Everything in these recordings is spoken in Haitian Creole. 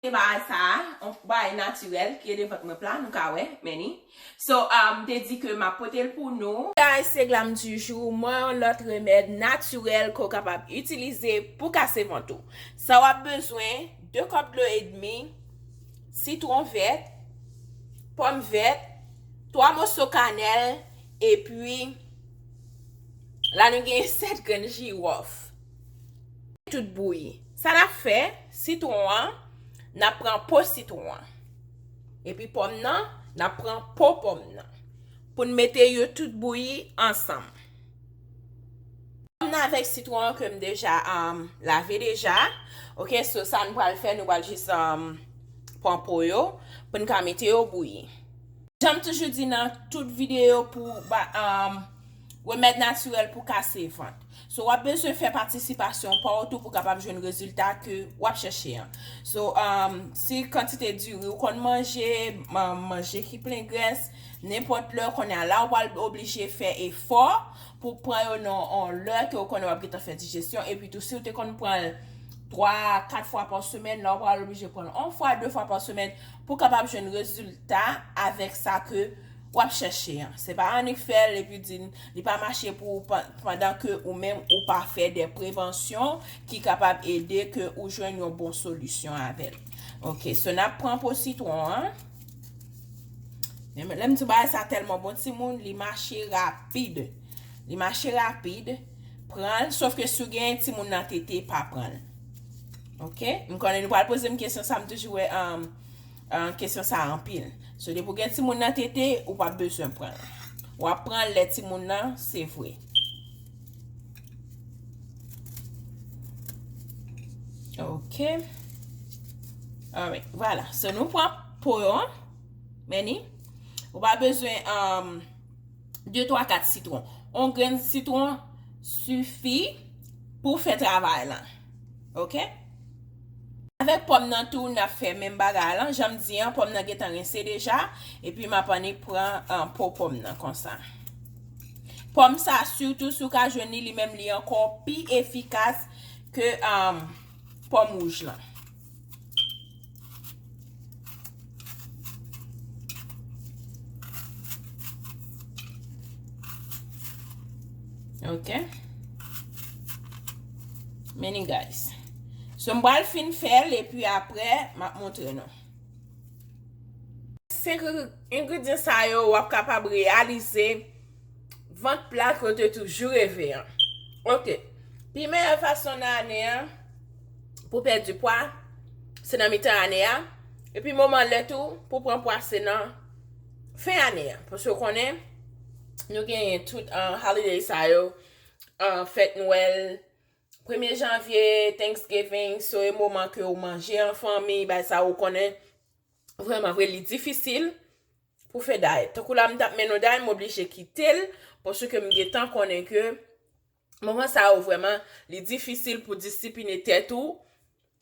se pa sa a on bagay naturel ki rele vant mwen pla nou ka wè many so m te di ke map pote l pou nou. Guys se glam du jour mwen yon lòt remèd naturel ke w kapab itilize pou kase vant ou sa wap bezwen 2 kòp dlo edmi sitron vèt pòm vèt 3 moso kanèl epi la nou gen 7 grenn jiròf tout bouyi. Sa n ap fè, sitwon an, n ap pran po sitwon an. Epi pòm nan, n ap pran po pòm nan. Pou n mete yo tout bouyi ansanm. Pòm nan avèk sitwon an ke m deja lave deja. Ok, so sa n pral fè, nou pral jis pran po yo pou n ka mete yo bouyi. Jan m toujou di nan tout videyo pou ba. Remèd natirèl pou kase vant. So wap bezwen fè patisipasyon pa w tou pou kapab jwenn rezilta ke wap chèche an. So um, si kantite diri ou konn manje, um, manje ki plen grès, nenpòt lè konnen an la ou pral oblije fè efò pou pran yo nan on lè ke ou konnen wap gentan fè dijesyon epi tou si ou te konn pran l 3 a 4 fwa pa semèn la ou pral oblije pran l on fwa 2 fwa pa semèn pou kapab jwenn rezilta avèk sa ke wap chèche an se pa annik fèl epi di li pa mache pou ou pandan ke ou menm ou pa fè de prevansyon ki kapab ede ke ou jwenn yon bon solisyon avèl ok so nap pran po sitwon an men lèm di bagay sa tèlman bon timoun li mache rapid li mache rapid pranl sof ke si w gen timoun nan tete pa pranl ok m konnen nou pral pozem kesyon sa m toujou wè an Kesyon sa anpil. So depi ou gen timoun nan tete, ou pa bezwen pran l. Ou ap pran l lè timoun nan se vre. Ok. Alright. Vwala. So nou pran po yo an. Meni. Ou pa bezwen 2, 3, 4 sitron. On grenn sitron sifi pou fè travay lan. Ok. Avèk pòm nan tou nap fè menm bagay lan janm di an pòm nan gentan rinse deja epi map annik pran po pòm nan konsa pòm sa sitou si ou ka jwenn li li menm li ankò pi efikas ke pòm wouj lan. Ok. Many guys. So m bal fin fel e pi apre m ap montre nou. 5 ingredyen sa yo wap kapab realize. Vant plat ke w te toujou reve an. Ok, pi meyè fason nan ane an pou w pèdi pwa, se nan mitan ane a, epi moman lè tou pou w pran pwa se nan fen ane a. Paske w konnen, nou genyen tout holiday sa yo, fèt nwèl, premye janvye, thanksgiving, so e moman ke w manje an fanmi, bay sa yo konnen, vrèman vre li difisil, Pou fè day. Tankou la m tap men nou day m oblije kite l paske m gentan konnen ke moman sa yo vrèman li difisil pou disipline tèt ou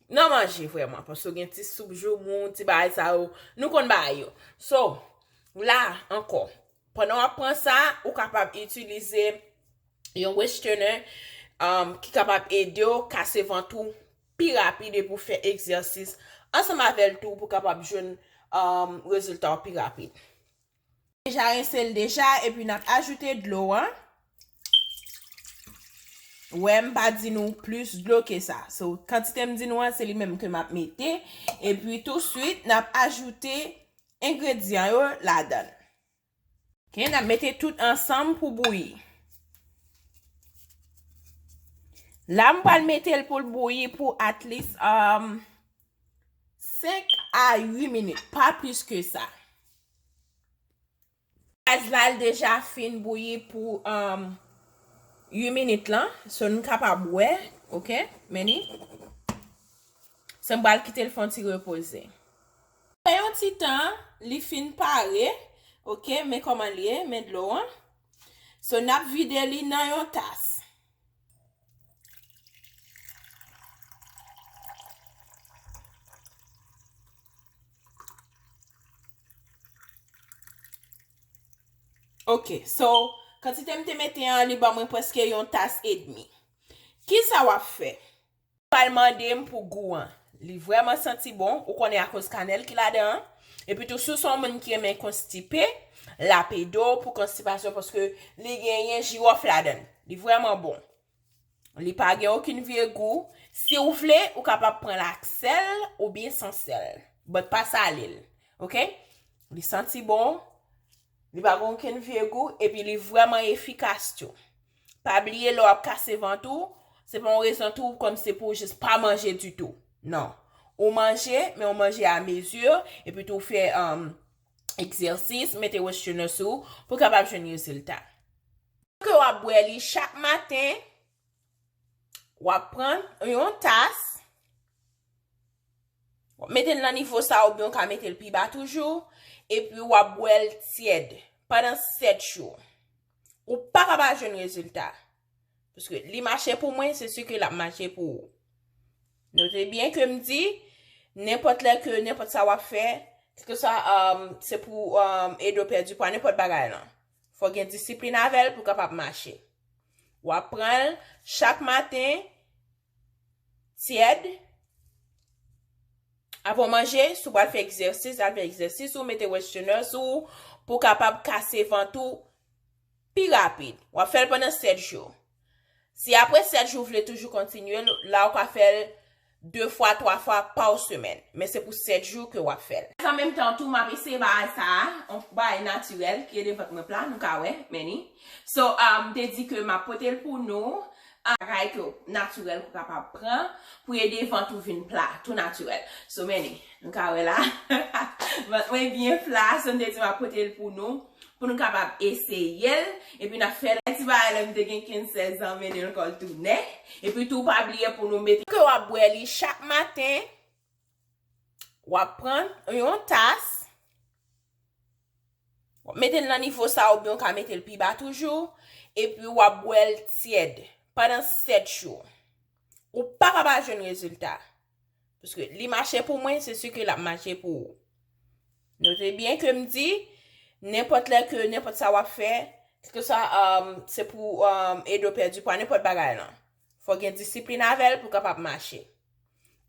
nan manje vrèman paske gen ti soup joumou, ti bagay sa yo nou konn bagay yo. So, la ankò pandan w ap pran sa ou kapab itilize yon westenè ki kapab ede w kase vant ou. pi rapid epi ou fè egzèsis ansanm avè l tou pou kapab jwenn rezilta w pi rapid. Deja rense l deja epi n ap ajoute dlo an. Wè m pa di nou plis dlo ke sa. So kantite m di nou an se li menm ke m ap mete epi touswit n ap ajoute engredyan yo ladan l. Kè nap mete tout ansanm pou bouyi. La m pral metel poul bouyi pou at least um 5 a 8 minit, pa plis ke sa. Gaz la l deja fin bouyi pou um 8 minit lan, so n kapab wè, ok, menni. So m pral kitel fon ti repoze. Aprè yon ti tan li fin pare ok men kòman li ye men dlo an so nap vide li nan yon tas. Ok so kantite m te mete an li ban mwen prèske yon tas edmi kisa wap fè Pral mande m pou gou an. Li vrèman santi bon, ou konnen akoz kanèl ki ladan an. Epi tou si w se yon moun ki renmen konstipe, lap ede w pou konstipasyon paske li genyen jiròf ladan l. Li vrèman bon. Li pa gen okenn vye gou. Si w vle, ou kapab pran l ak sèl oubyen san sèl. But pa sale l. Ok? Li santi bon. Li pa gen okenn vye gou epi li vrèman efikas tou. Pa bliye lè w ap kase vant ou, se pa yon rezon tou kòm se pou w jis pa manje ditou. Non. Ou manje, men ou manje a mezi, epi tou ou fè egzèsis, mete westherners sou ou pou w kapab jwenn rezilta. Ke w ap bwè li chak maten, Wap pran yon tas. Wap mete l nan nivo sa oubyon ka mete l pi ba toujou. E pi wap bwè l tyèd. Padan 7 jou. Ou pa ka pa jwenn rezilta. Paske li mache pou mwen, se si ke l ap mache pou ou. Note byen ke m di, nenpòt lè ke nenpòt sa wap fè, se pou edo pèdi pwa, nenpòt bagay lan. Fò gen disiplin avè l pou kapab mache. W ap pran l chak maten tyèd apre w manje, si w pral fè egzèsis, al fè egzèsis ou, mete westhener sou ou pou kapab kase vant ou pi rapid. W ap fè l pandan 7 jou. Si apre 7 jou ou vle toujou kontinye l, la ou ka fè l 2 fwa, 3 fwa paw semèn. Men se pou 7 jou ke wap fè l. An menm tan tou map eseye bagay sa a, yon bagay natirèl ki ede vant mwen pla, nou ka wè, men ni. So, m te di ke map pote l pou nou, bagay ke w natirèl ke w kapab pran pou ede vant ou vin pla, tou natirèl. So, men ni. Nou ka wè la, vant mwen byen pla, so m te di map pote l pou nou. Pou nou kapab eseye l, epi n ap fè l. Ti bagay lè m te gen 15, 16 an, mennen l kòl tou nè. Epi tou pa bliye pou nou mete. Ke w ap bwè li chak maten. W ap pran yon tas. W ap mete l nan nivo sa oubyen w ka mete l pi ba toujou. Epi w ap bwè l tyèd pandan 7 jou. Ou paka pa jwenn rezilta. Pske li mache pou mwen, se si ke lap mache pou ou. Note byen ke m di, nenpòt lè ke nenpòt sa wap fè, kèlke sa um, se pou um, ede w pèdi pwa, nenpòt bagay lan. Fò gen disiplin avè l pou kapab mache.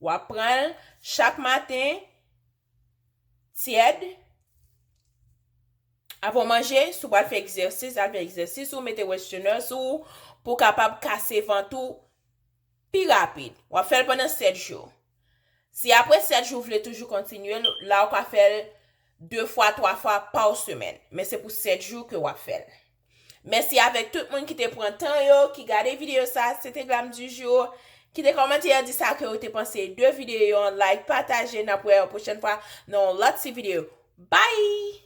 Wap pran l chak maten, tyèd, avan w manje, si w pral fè egzèsis, al fè egzèsis ou, mete wèstènè sou ou, pou kapab kase vant ou, Pi rapid, w ap fè l pandan 7 jou. Si apre 7 jou w vle toujou kontinye l, la ou ka fè l 2 fwa, 3 fwa pa w semèn, men se pou 7 jou ke w ap fè l. Mèsi avèk tout moun ki te pran tan yo, ki gade videyo sa, se te Glam du jour. Kite kòmantè di sa ke ou te panse de videyo an, like, pataje, n ap wè yo pwochèn fwa nan yon lòt ti videyo. Bye!